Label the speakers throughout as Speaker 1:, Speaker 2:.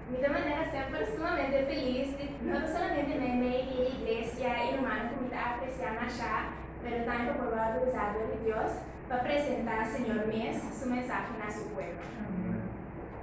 Speaker 1: Mi ta manera semper sumamente felis di no ta solamente mende di e iglesia i humano ku mi ta apresiá mashá, pero tambe por lo alto desatio di Dios pa presentá Señor mes su mensahe na su pueblo.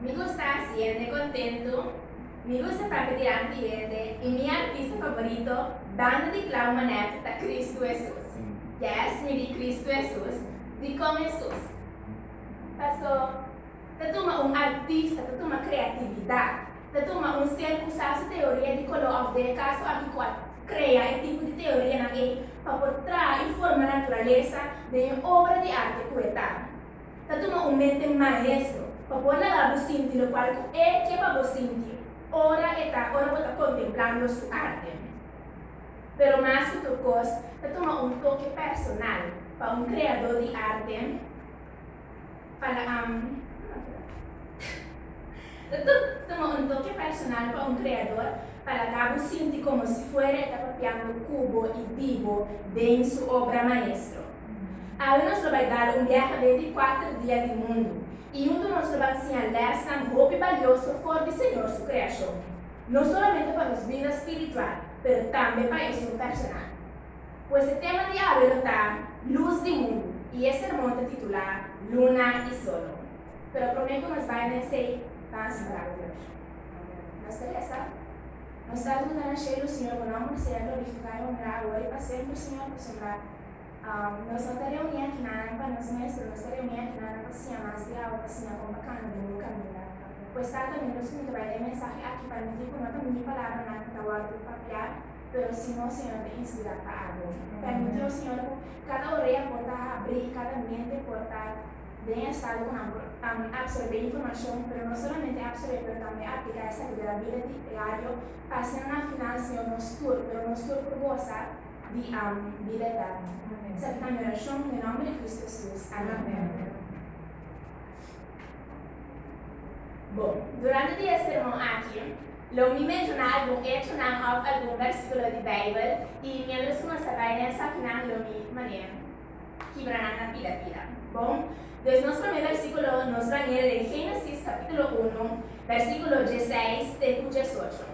Speaker 1: Mi gusta haci hende contento, mi gusta papia dilanti di hende y mi artista favorito, banda di Clau Manette, ta Cristo Hesus. Yes, mi di Cristo Hesus. Dicon Hesus? Paso, ta tuma un artista, ta tuma creatividad, ta tuma un ser cu sa su teoria di color of den e caso aki cu a crea e tipo di teorianan ey pa por traha y forma naturaleza den e obra di arte cu e ta. ta tuma un mente maestro pa por laga bo sinti lokual ku E ke pa bo sinti ora e ta ora bo ta kontemplando Su arte. Pero mas ku tur kos, ta tuma un toke personal pa un kreadó di arte pa la am ta tuma un toke personal pa un kreador pa laga bo sinti komo si fuera e ta papiando ku bo i di bo den Su obra maestro. Awe nos lo bai dal un biaha benti kuater dia di mundu i yuntu nos lo ban siña lèsnan hopi balioso for di Señor su kreashon, no solamente pa nos bida spiritual pero tambe pa esun personal. Pues e tema di awe lo ta Lus di mundu i e sermon ta titulá Luna i Solo. Pero promé ku nos bai na esei ban separá ku Dios. Nos ta resa, Nos Tata ku ta na shelu, Señor, Bo nòmber sea glorifiká i onrá awe i pa semper, Señor, pa su onrá. Nos no ta reuni aki naran pa nos mester, nos ta reuni aki naran pa siña mas di awa, pa siña kon pa kami den e kaminda. Pues ta ta mi rusun di bai den e mensahe aki pa no di ku no ta mi palabranan ku ta wòrdu di papiá, pero si nos Señor ta inspirá pa abri. Permití, o Señor, ku kada orea por ta habrí i kada mente por ta den e estado ku nan por tambe apsorbé e informashon, pero no solamente apsorbé pero tambe apliká esaki den nan bida diario pa asina na final, Señor, nos tur, pero nos tur por gosa. di am, bida eterno. Sa di primer orashon ku e nomber di Kristu Hesus. Amen. Bo, durante di e sermon aki, lo mi menshoná algun echonan òf algun bèrsikulo di Beibel i miembros ku no sa bai den esakinan lo mi manera kibra nan na pida pida. Bon, pues nos promé bèrsikulo nos bañera den Génesis kapítulo unu, bèrsikulo diesseis te ku diesocho.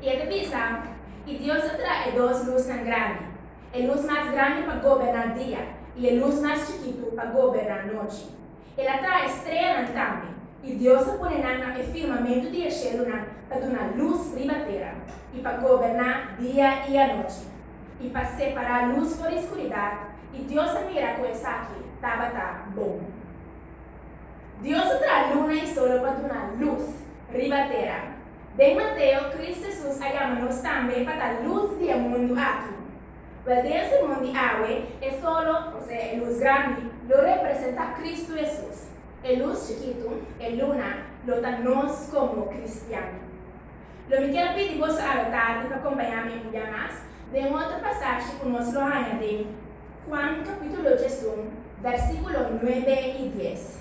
Speaker 1: I e ta bisa, I Dios a traha e dos lusnan grandi, e lus mas grandi pa goberná dia, i e lus mas chikitu pa goberná nochi. El a traha e streanan tambe, i Dios a pone nan na e firmamentu di e shelunan pa duna lus riba tera, i pa goberná dia i anochi, i pa separá lus for di skuridat, i Dios a mira ku esaki tabata bon. Dios a traha luna i solo pa duna lus riba tera. Den Mateo, Kris Hesus a yama nos tambe pa ta lus di e mundu aki. Wel, den e sermon di awe, e solo, osea e lus grandi, lo representa Kristu Hesus. E lus chikitu, e luna, lo ta nos komo kristian. Lo mi kier pidi boso awe tardi pa kompaña mi un bia mas den otro pasashi ku nos lo haña den Juan kapítulo diesun, vèrsikulo nuebe i dies.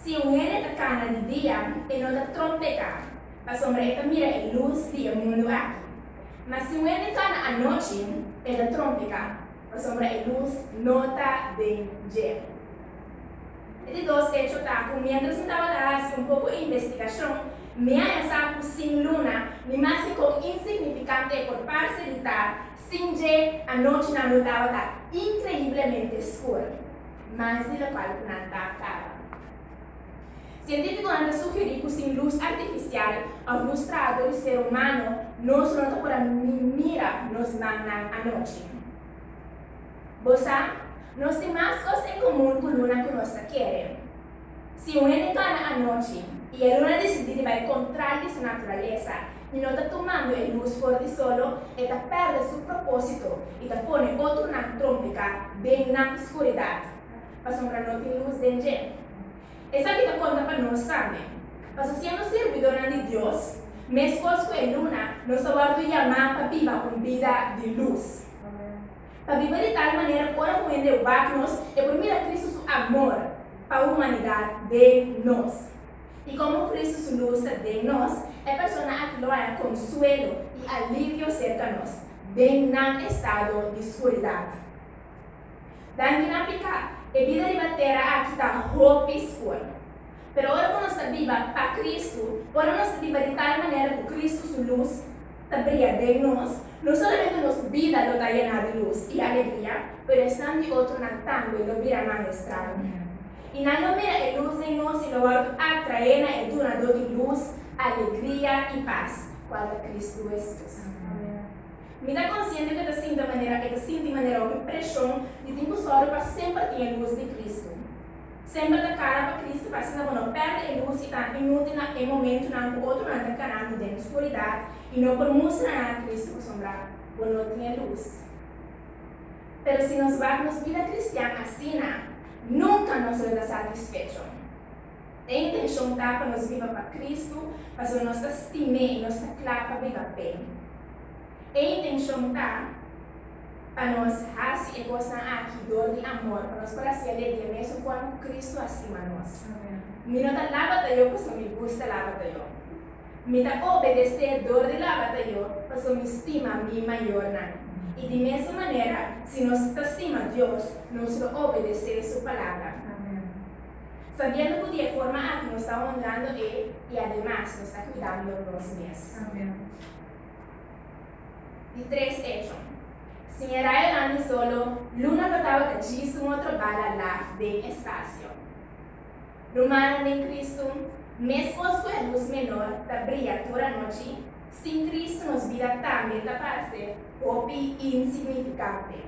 Speaker 1: Si un hende ta kana di dia, e no ta troc peká, pasobra e ta mira e lus di e mundu aki. Ma si un hende kana anochi, e ta troc peká, pasobra e lus no ta den dje. E di dos echo ta cu mientras mi tabata haci un poco investigacion, mi haña sa cu sin luna, ni mas di con insignificante e por parce di ta, sin dje anochi nan lo tabata increiblemente scur. Mas di lokal ku nan ta kaba. Sientífikonan ta sugerí ku sin lus artifisial òf lus traador di ser humano nos no ta por a mira nos mannan anochi. Bo sa, nos tin mas kos en komun ku luna ku nos ta kere. Si un hende kana anochi i e luna disidí di bai kontral di su naturalesa, I no ta tumando e lus for di solo, e ta pèrdè su propósito i ta pone otronan trompiká den na skuridat, pasobra no tin lus den dje. Esaki ta konta pa nos tambe, paso siendo sirbidonan di Dios, meskos ku e luna, nos a wòrdu yamá pa biba un bida di lus, pa biba di tal manera ku ora ku hende wak nos, e por mira Kristu su amor pa humanidat den nos. I como Cristo su luz ta den nos, e persona aki lo haña consuelo i alivio cerca nos, den nan estado di scuridad. Danki na pica, e bida riba tera aki ta hopi scur. Pero ora cu nos ta biba pa Cristo, ora nos ta biba di tal manera cu Cristo su luz, ta bria den nos, no solamente nos bida lo ta yena di lus i alegria, pero esnan di otronan tambe lo bira mas estrano. I nan lo mira e lus den nos i lo wòrdu atraé na e Dunadó di lus, alegria i pas, kual ta Kristu Hesus. Mi ta konsiente ku e ta sinta manera e ta sinti manera hopi preshon di tin ku sòru pa semper tin e lus di Kristu. Semper ta cara pa Cristo, pa asina bo no perde e luz y ta inútil na e momentunan cu otronan ta canando den oscuridad y no por mustra nan a Cristo pasobra bo no tin e luz. Pero si nos bak nos bida cristian asina, nunca nos lo ta satisfecho. E intencion ta pa nos biba pa Cristo, pasobra nos ta stim'é y nos ta cla pa biba p'é. E intencion ta pa nos haci e cosnan aki dor di amor, pa nos por haci alegria mesun forma cu Cristo a stima nos. Mi no ta laba tayo pasobra mi gusta laba tayo. Mi ta obedece dor di laba tayo pasobra mi stima mi mayornan. Y di mesun manera, si nos ta stima Dios, nos lo obedece su Palabra. Sabiendo cu di e forma aki nos ta honrando E y ademas nos ta cuidando nos mes. Di tres echo. Siña Ryan Andy Solo luna pa tabata djis un otro bala laag den e spasio. Rumannan den Kristu, mescos cu e luz menor ta bria tur anochi, sin Kristu nos bida tambe ta parce hopi insignificante.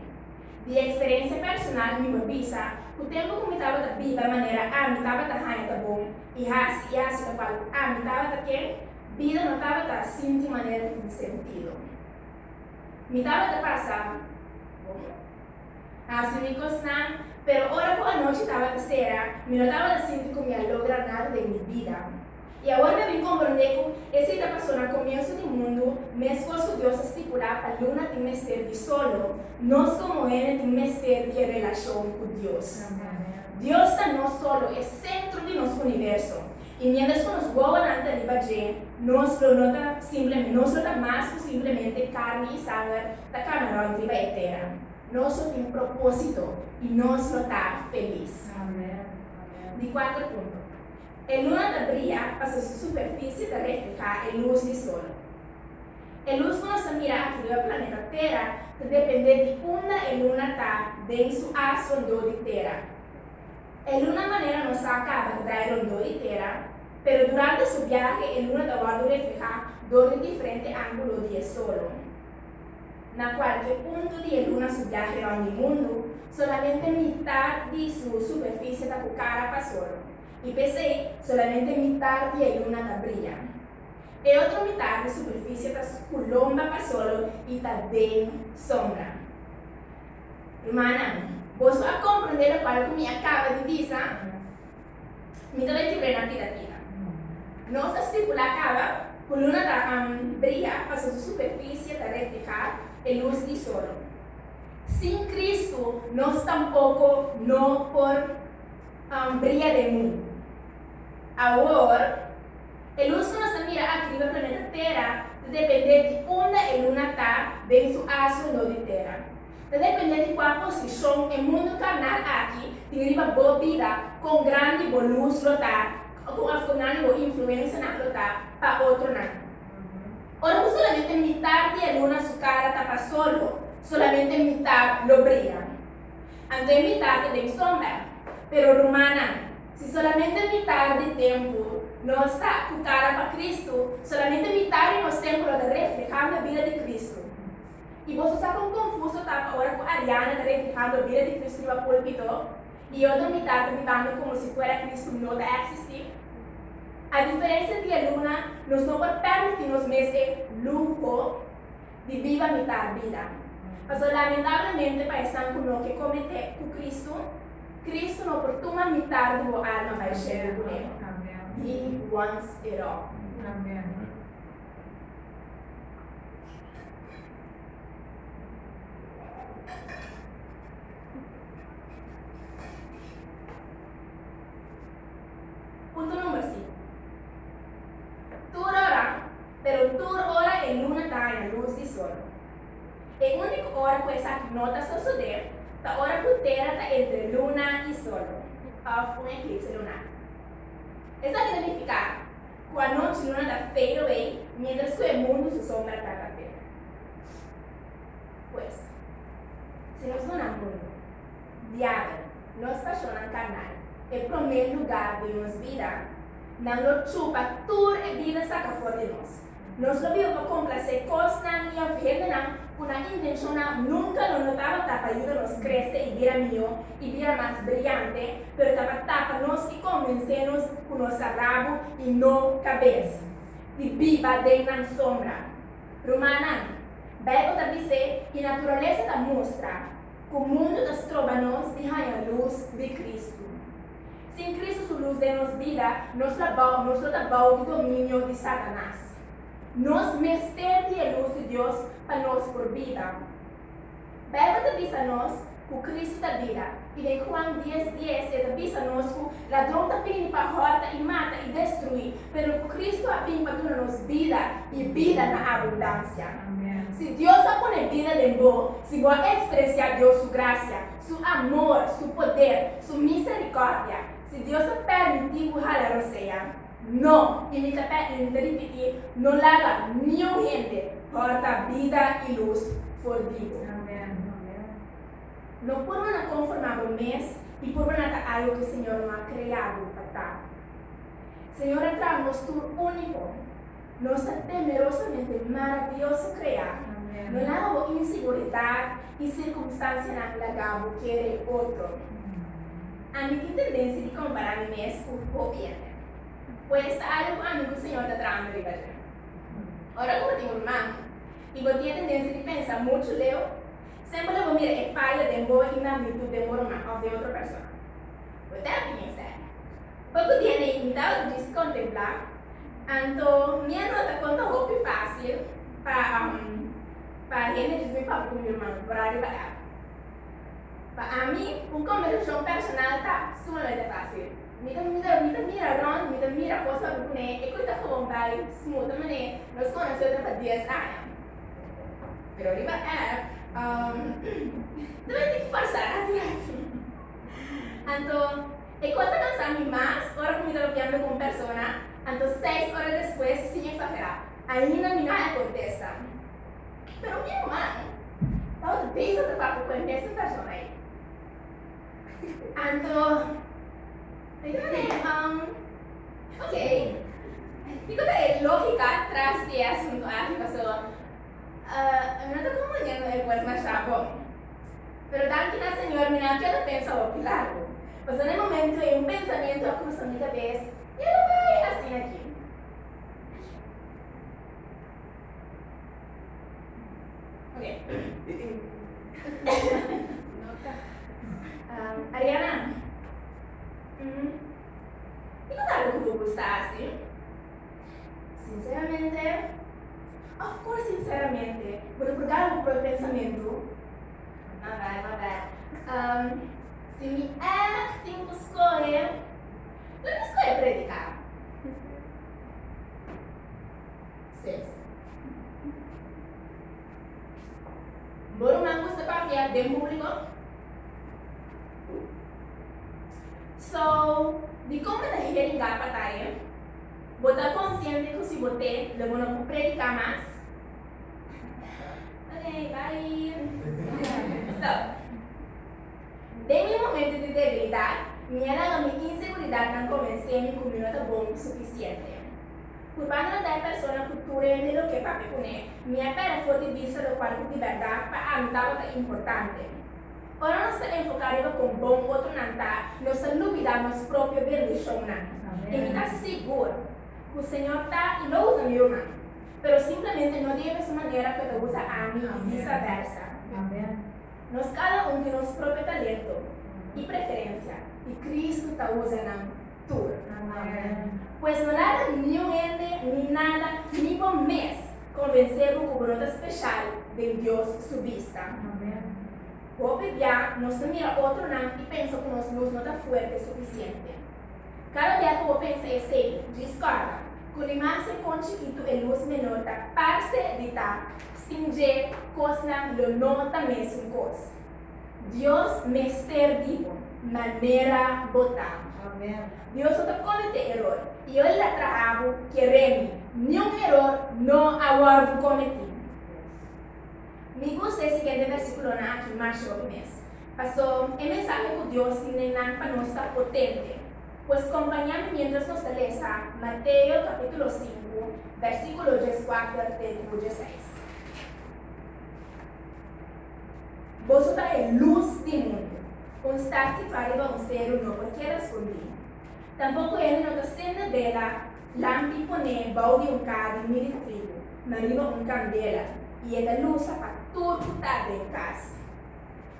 Speaker 1: Di experiencia personal mi por bisa cu tempo cu mi tabata biba manera ami tabata haña ta bon y haci y haci locual ami tabata ken, Bida no tabata sinti manera di tin sentido. Mi tabata pasa, Como? Hasi mi cosnan, pero ora cu anochi tabata sera, mi no tabata sinti cu mi a logra nada den mi bida. I awor mi a bin comprende cu esei ta pasó na comienzo di mundu, mescos cu Dios a stipula pa luna tin mester di solo, nos como hende tin mester di e relacion cu Dios. Dios ta nos solo, e centro di nos universo. I miéntras ku nos wowonan ta riba dje, nos lo no ta simplemente, nos lo ta mas ku simplemente karni i sanger ta kana rònt riba e tera. Nos lo tin propósito i nos lo ta felis. Di kuater punto. E luna ta bria pasobra su superfisie ta reflehá e lus di sol. E lus ku nos ta mira aki riba planeta tera ta dependé di unda e luna ta den su as rondó di tera. E luna manera nos sa a caba ta dai rondó e tera, pero durante su biahe e luna ta wordo reflehá dor di diferente ángulo di e solo. Na cualke punto di e luna su biahe rond di mundu, solamente mitar di su superficie ta cu cara pa sol, i p'esei solamente mitar di e luna ta bria. E otro mitar di superficie ta cu lomba pa solo i ta den sombra. Rumannan, boso a komprendé lokual ku mi a kaba di bisa? Mi ta bai kibrena pida pida. Nos a stipulá kaba ku luna ta bria pasobra su superfisie ta reflehá e lus di sol. Sin Kristu, nos tampoko no por bria den mun. Awor. E lus ku nos ta mira aki riba planeta Tera ta dependé di unda e luna ta den su asu no di Tera. Ta dependé di kua posishon e mundu karnal aki tin riba bo bida, kon grandi bo lus lo ta, kon afkuna di bo influensianan lo ta pa otronan. Ora ku solamente mitar di e luna su kara ta pa solo, solamente mitar lo bria. Anto e mitar ta den sombra. Pero rumannan. Si solamente mitar di tempu nos ta cu cara pa Cristo, solamente mitar di nos tempu lo ta reflehando bida di Cristo. Y boso sa con confuso ta pa ora cu Ariana ta reflehando bida di Cristo riba pulpito y e otro mitar ta bibando como si fuera Cristo no ta existi? A diferencia di e luna, nos no por permiti nos mes e luho. di biba mitá bida. Pasobra lamentablemente pa esan ku no ke kometé ku Kristu, Kristu no por tuma mitá di bo alma pa e shelu ku El di wans e ròk. Pero tur ora e luna ta haña lus di sol. E único ora cu esaki no ta sosode ta ora cu Tera ta entre luna y sol, of un eclipse lunar. Esaki ta nifica cu anochi luna ta fade away mientras cu e mundo su sombra ta ta Tera. Pues, si nos duna mundo, diabel, nos pasionnan carnal e prome lugar den nos vida, Nan lo chupa tur e bida saka for di nos. Nos lo bil pa complase cosnan y of hendenan cu nan intencionnan nunca lo no tabata pa yuda nos crece y bira miho y bira mas brillante, pero ta pa tapa nos y convence nos cu nos ta rabu y no cabes di biba den nan sombra. Rumannan, Bijbel ta bis'e y naturalesa ta mustra cu mundo ta stroba nos di haña luz di Cristo. Sin Cristo su luz den nos bida, nos ta bao, nos lo ta bao di dominio di Satanas. Nos mester di e luz di Dios pa nos por bida. Bijbel ta bisa nos cu Cristo ta bida, y den Juan dies dies e ta bisa nos cu ladron ta bini pa horta y mata y destrui, pero cu Cristo a bin pa duna nos bida y bida na abundancia. Si Dios a pone bida den bo, si bo a experencia Dios su gracia, Su amor, su poder, su misericordia. Si Dios ta permiti cu hala rosea, no, y mi ta pe y mi ta ripiti, no laga niun hende horta bida y luz for di bo. No purba na conforma bo mes y purba na ta algo cu Señor no a crea bo pa ta. Señor a traha nos tur unico. Nos ta temerosamente maravioso krea. No laga bo inseguridat i sirkunstansianan laga bo kere otro. Ami tin tendensia di kompará mi mes ku hopi hende. Pues ta algu ku ami ku Señor ta trahando riba dje. Ora ku bo tin un mami i bo tin e tendensia di pensa muchu leu, semper lo bo mira e faya den bo i magnitut den bo ruman òf den otro persona. Bo ta happy mester. Bo ku dianan i mi ta djis kontemplá, anto mi a nota kon ta hopi fásil pa pa hende djis mi papia ku mi man por ariba el. Pa ami, un kombersashon personal ta sumamente fásil. Mi ta mi ta mi ta mira rònt, mi ta mira kos pasobra ku ne e kos ta kobon bai smut manera nos konosé otro pa dies aña. Pero riba app, ta mester forzá ratu ratu. Anto. E cos ta cansa mi mas ora cu mi ta lopiando cu un persona, anto seis ora despues, sin exagera, ainda mi no a contesta. Pero mi ruman tabata bezig ta papia cu e mesten persona ey. Anto mi ta manda e, Um, ok, kico ta e logica tras di e asunto aki? Paso, uh, mi no ta comprendiendo e voz masha bon. Pero danki na Señor mi no a keda pensa hopi largo. Pasobra e momento ei un pensamiento a crusa mi cabes, E lo bay asina ki? Ariana, Kiko ta haber cu bo gusta haci? Sinceramente, of course sinceramente, bo ta por dal un propi pensamentu. Ma bai, ma bai. Um, si mi ègt tin cu scohe, lo mi scohe predica. Ses. Bo ruman gusta papia den publico? So, dicon bo ta heringa pa taye? Bo ta konsiente ku si bo t'e lo bo no por prediká mas? Oke, bai. Den mi momentu di debilidat, mi a laga mi inseguridatnan komens'é mi ku mi no ta bon sufisiente. Purbando na ta e persona ku tur hende lo ke papia kuné, mi a pèrdè for di bista lokual ku di bèrdat pa ami tabata importante. Ora nos ta enfoká riba kon bon otronan ta, nos ta lubidá nos propio bendishonnan. I mi ta sigur ku Señor ta i lo usa mi ruman, pero simplemente no di e mesun manera ku e ta usa ami i visaversa. Nos kada un tin nos propio talento i preferensia, i Kristu ta usa nan. tur. Amen. Pues no laga niun hende ni nada ni bo mes konvensé bo ku bo no ta speshal den Dios su bista. Hopi bia nos ta mira otronan i pensa ku nos nos no ta fuerte sufisiente. Kada bia ku bo pensa esei, diskorda ku ni mas e kon chikitu e lus menor ta parse di ta, sin dje kosnan lo no ta mesun kos. Dios mester di bo manera bo ta. Dios no ta comet'é eror y El ta traha bo ker'é mi. Niun eror no a wordo cometi. Mi gusta e siguiente versiculonan aki masha hopi mes. Paso e mensahe cu Dios tin den nan pa nos ta potente. Pues compaña mi mientras nos ta lesa Mateo capitulo sinku versiculo dieskuater te ku diesseis. Boso ta e lus di e mundu. Un star tin pa riba un seru no por keda skundí. Tampoko hende no ta sende bela lampi poné bou di un kaha di mil tribu, ma riba un kandela, i e ta lusa pa tur ku ta den kas.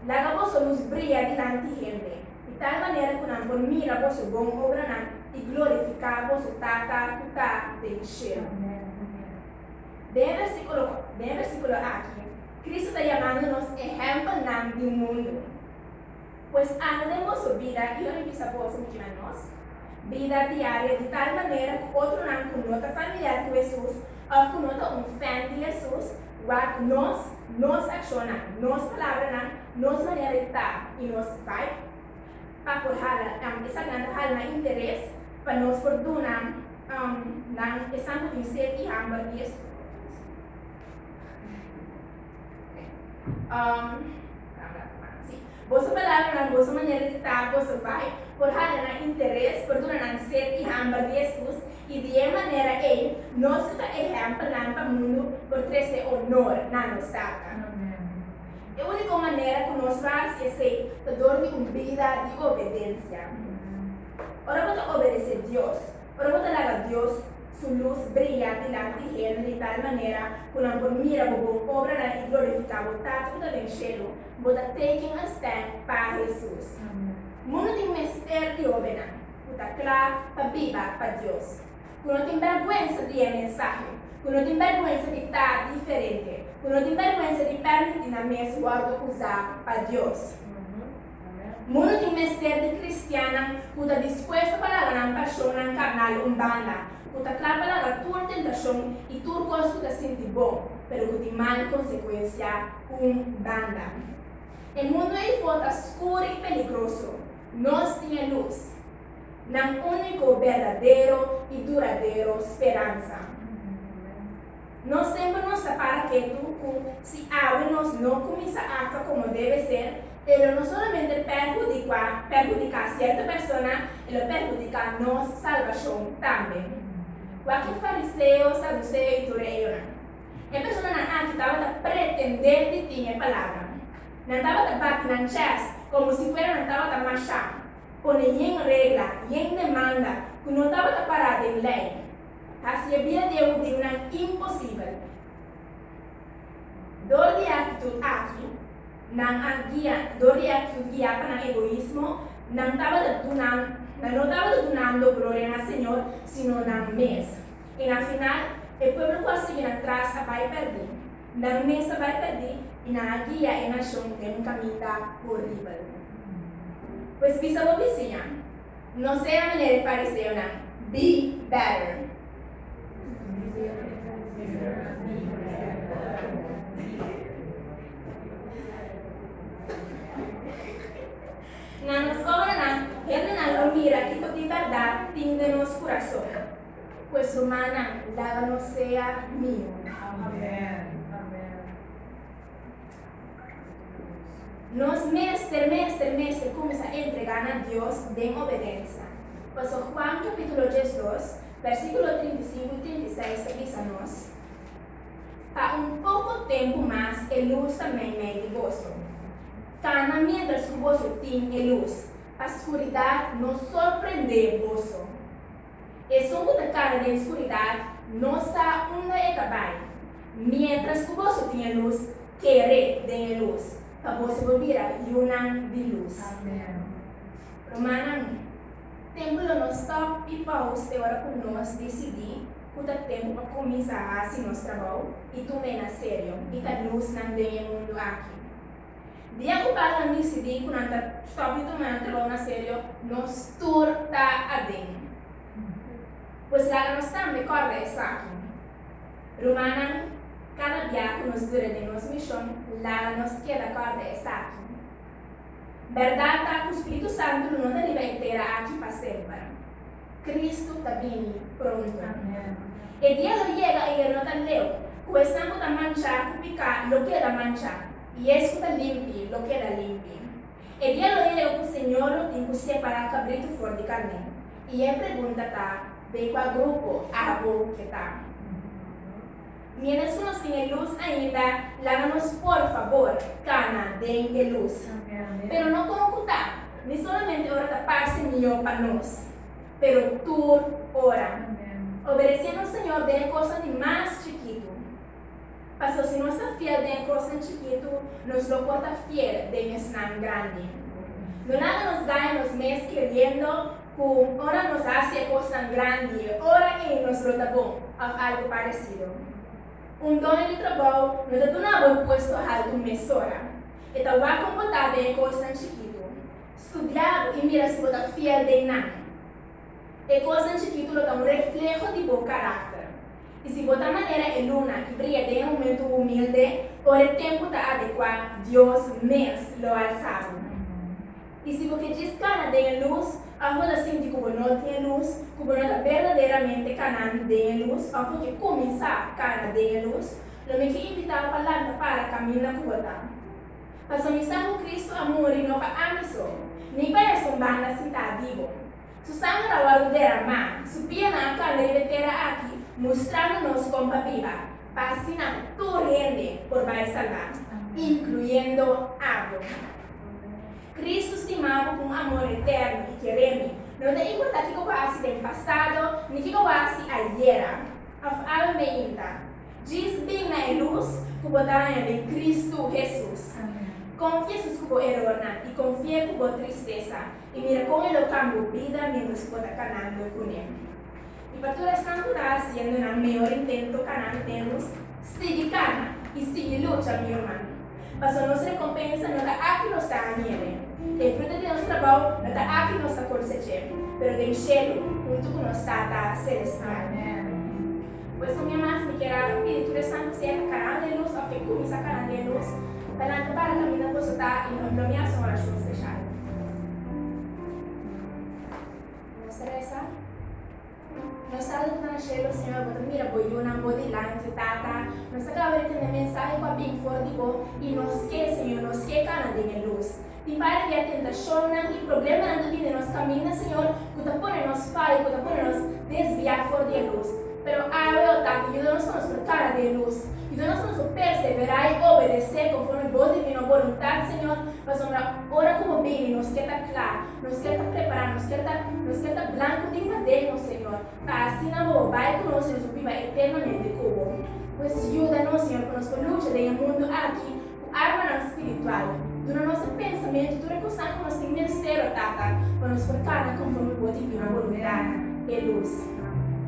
Speaker 1: Laga boso lus bria dilanti hende, di tal manera ku nan por mira boso bon obranan i glorifiká boso Tata ku ta den shelu. Den e vèrsikulo, den e vèrsikulo aki, Cristo ta yamando nos ehempelnan di mundo. Pues anda den boso bida y hopi bisa boso mi ciudad nos bida diaria di tal manera cu otronan cu no ta familiar cu Hesus of cu no ta un fan di Hesus wak nos, nos accionnan, nos palabranan, nos manera di ta y nos vibe pa por hala nan. Esaknan ta hala nan interes pa nos por duna nan esan cu tin sed y hamber di Hesus. Boso palabra nan, boso manera di ta, boso bai por hala nan interes por duna nan sed i hamber di Hesus, i di e manera ei nos ku ta ehèmpel nan pa mundu por trese onor na nos Tata. E úniko manera ku nos lo hasi esei ta dor di un bida di obedensia. Ora bo ta obedesé Dios. Ora bo ta laga Dios su lus bria dilanti di hende di tal manera ku nan por mira bo bon obranan i glorifiká bo Tata ku ta den shelu, bo ta teken un stèm pa Hesus. Mundu tin mester di hóbennan ku ta kla pa biba pa Dios, ku no tin bèrgwensa di e mensahe, ku no tin bèrgwensa di ta diferente, ku no tin bèrgwensa di pèrmití nan mes wòrdu uzá pa Dios. Mundu tin mester di kristiannan ku ta dispuesto pa laga nan pashonnan karnal un banda, ku ta kla pa laga tur tentashon i tur kos ku ta sinti bon, pero ku tin mal konsekuensia, un banda. E mundu eifo ta skuru i peligroso. Nos tin e lus, nan úniko berdadero i duradero speransa. Nos tempo nos ta para ketu cu si awe nos no cuminsa actua como debe ser, e lo no solamente perhudicua, perhudica cierto persona, e lo perhudica nos salvacion tambe. Wak e fariseo, saduceo y tur e eyonan. E personanan aki tabata pretende di tin e palabra. Nan tabata bati nan chèst como si fuera nan tabata masha pone yen regla, yen demanda cu no tabata para den ley. Hasi e bida di e hudiunan imposibel. Dor di e aktitut aki, nan a guia, dor di e aktitut guiá pa nan egoismo, nan tabata dunan, nan no tabata dunando gloria na Señor, sino nan mes. I na final, e pueblo ku a sigui nan tras a bai pèrdí. Nan mes a bai pèrdí i nan a guia e nashon den un kaminda horibel. Pues bisa bo bisiña. No sea manera e fariseonan. Be better. Na nos obranan hendenan lo mira kiko di bèrdat tin den nos kurason. Pues rumannan, laba nos sea mihó. Amen. Nos mester, mester, mester cuminsa entrega na Dios den obedencia. Pasobra Juan capítulo diesdos, versículo trinta i sinku i trinta i seis ta bisa nos, Pa un poco tempu mas e luz ta mei mei di boso. Cana mientras cu boso tin e luz, pa scuridad no sorprende boso. Esun ku ta kara den skuridat no sa unda e ta bai. Miéntras ku boso tin e lus, kere den e lus, pa boso por bira yunan di lus. Rumannan, tempu lo no stòp i pòus te ora ku nos disidí ku ta tempu pa kuminsá hasi nos trabou i tuma e na serio, i ka lus nan den e mundu aki. Dia ku Pablo misi di ku nan ta stòp di tuma nan trabou na serio, nos tur ta aden. Pues laga nos tambe kòrda esaki, rumannan, Kada bia ku nos dura den nos mishon, laga nos keda kòrda esaki. Bèrdat ta ku spiritu santu no ta riba e tera aki pa semper. Kristu ta bini pronto. E dia lo yega ayer no ta leu ku esnan ku ta manchá ku piká lo keda manchá. I es ku ta limpi lo keda limpi. E dia lo e lo ku Señor lo tin ku separá kabritu for di karné, i e pregunta ta, Den kua grupo abo ke ta? Miéntras ku nos tin e lus ainda, laga nos por fabor kana den e lus. Pero no kon ku ta ni solamente ora ta parse mihó pa nos, pero tur ora. Obedeséndo Señor den e kosnan di mas chikitu. Pasobra si nos ta fiel den e kosnan chikitu, nos lo por ta fiel den esnan grandi. No laga nos daña nos mes kreyendo ku ora nos hasi e kosnan grandi, e ora ei nos lo ta bon òf algu paresido. Un done di trabou no ta duna bo e puesto haltu mesora. E ta wak kon bo ta den e kosnan chikitu. Studia bo i mira si bo ta fiel den nan. E kosnan chikitu lo ta un refleho di bo karakter. I si bo ta manera e luna i bria den e momentu humilde, ora e tempu ta adekuá, Dios mes lo alsa bo. I si bo ke djis kana den e lus, òf bo ta sinti ku bo no tin e lus, ku bo no ta berdaderamente kanan den e lus òf bo ke kuminsá kana den e lus, lo mi ke invitá bo pa lanta para kaminda ku bo ta. Pasobra mi sa ku Kristu a muri no pa ami so, ni pa esun banda sintá di bo. Su sanger a wòrdu deramá, su pianan a kanda riba e tera aki, mustrando nos kon pa biba, pa asina tur hende por bai salbá, inkluyendo abo. Kristu stima bo ku un amor eterno i keré mi, no ta importá kiko bo a hasi den pasado ni kiko bo a hasi ayera òf algo meinta. Djis bin na e lus ku bo ta haña den Kristu Hesus. Konfié sus ku bo erornan i konfié ku bo tristesa, i mira kon e lo kambio bida mientras bo ta kanando ku ne. I pa tur esnan ku ta hasiendo nan mihó intento kanal tennos, sigui kana i sigui lucha mi ruman, paso nos rekompensa no ta aki nos ta hahine, e fruta di nos trabou no ta aki nos ta kosech'é, pero den shelu huntu ku nos Tata Selestial. Pues so mi mas mi kier a pidi tur esnan ku siempre a kanan den lus òf ke kuminsa kanan den lus pa nan ta para ta mira koso ta i nos lo mi hasi un orashon speshal. Nos a resa, Nos Tata ku ta na shelu, Señor, bo ta mira bo yunan bo dilanti, Tata. Nos a kaba di tende mensahe ku a bin for di bo i nos ke, Señor, nos ke kanan den e lus. Di parte di e tentacionnan y problemanan cu bini nos caminda, Señor, cu ta pone nos fai, cu ta pone nos desvia for di e luz. Pero awe, o Tata, yuda nos pa nos ta cara di e luz. Yuda nos pa nos ta persevera y obedece conforme Bo divino boluntad, Señor, pasobra ora cu Bo bini nos kier ta cla, nos kier ta prepara, nos kier ta, nos kier ta blanco den nadenho, Señor. Ta asina Bo bo bay cu nos y nos bo biba eternamente cu Bo. Pues yuda nos, Señor, pa nos por lucha den e mundo aki, Armanan spiritual, duna nos e pensamentu tur e kosnan ku nos tin mester, o Tata, pa nos por kana konforme Bo difina boluntanan, e lus.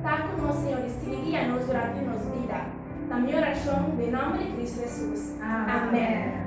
Speaker 1: Ta ku nos, Señor, i sigui guia nos durante nos bida. Ta mi orashon den nòmber di Kristu Hesus. Amèn.